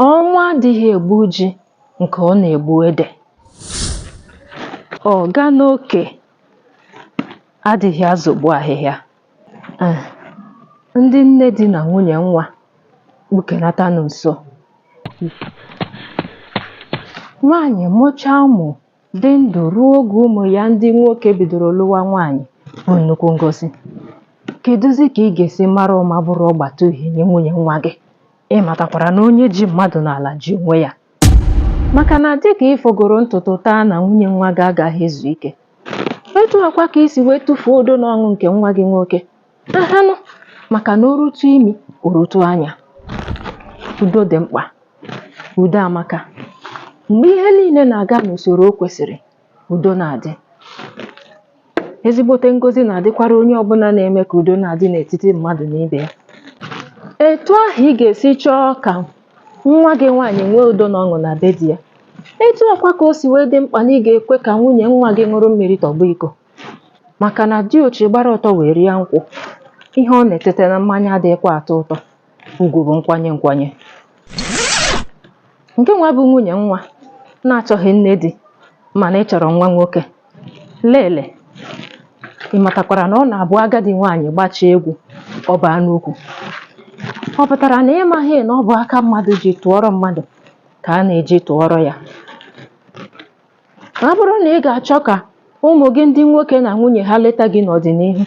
Ọnwa adịghị egbu ji nke ọ na-egbu ede. Ọga n'oke adịghị azọgbu ahịhịa. Eh, Ndị nne di na nwunye nwa kpụkenatanụ nso. Nwaanyị mụchaa ụmụ dị ndụ ruo oge ụmụ ya ndị nwoke bidoro lụwa nwaanyị bụ nnukwu ngozi kedụzi ka ị ga-esi mara ụma bụrụ ọgbata uhie nye nwunye nwa gị ị matakwara na onye ji mmadụ n'ala ji onwe ya maka na dịka ị fọgoro ntutu taa na nwunye nwa gị agaghị ezu ike etu a kwa ka i si wee tụfuo udo na ọṅụ nke nwa gị nwoke ahanụ maka na o rutu imi o rutu anya udo dị mkpa udo amaka mgbe ihe niile na-aga n'usoro o kwesịrị udo na-adị ezigbote ngozi na-adịkwara onye ọbụla na-eme ka udo na-adị n'etiti mmadụ na ibe ya etu ahụ ị ga-esi chọọ ka nwa gị nwaanyị nwee udo na ọṅụ na be di ya etu a kwa ka o si wee dị mkpa na ị ga-ekwe ka nwunye nwa gị ṅụrụ mmiri tọgbọ iko màkà nà diochi gbara ọtọ wèe rịa nkwụ, ihe ọ nà-ètete na mmanya adịghịkwa àtọ ụtọ, ugwù bụ̀ nkwanye nkwanye. Nke nwa bụ nwunyè nwa na-achọghị nne di mànà ị chọ̀rọ̀ nwa nwoke, leele ị màtàkwàrà nà ọ nà-àbụ agadi nwaanyị̀ gbachie egwu ọ baa n'ukwù, ọ pụtara na ị maghị na ọ bụ aka mmadụ ji tụọrọ mmadụ ka a na-eji tụọrọ ya. ọ bụrụ na ị ga-achọ ka ụmụ gị ndị nwoke na nwunye ha leta gị n'ọdịnihu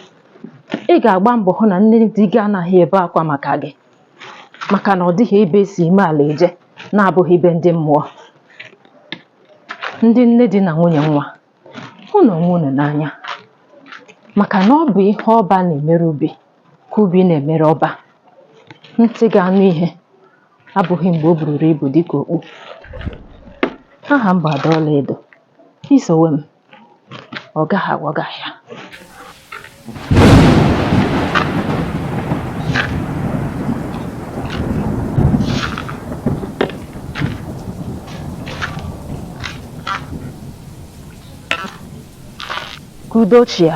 ị ga-agba mbọ hụ na nne di gị anaghị ebe akwa maka gị maka na ọ dịghị ebe e si ime ala eje na-abụghị be ndị mmụọ ndị nne di na nwunye nwa hụnụ onwe unu n'anya maka na ọ bụ ihe ọba na-emere ubi ka ubi na-emere ọba ntị ga-anụ ihe abụghị mgbe o bururu ibu dịka okpu. Aha m bụ Ada Ọlaedo. I sowe m, ọ gaghị aghọ gị ahịa. Ka udo chịa.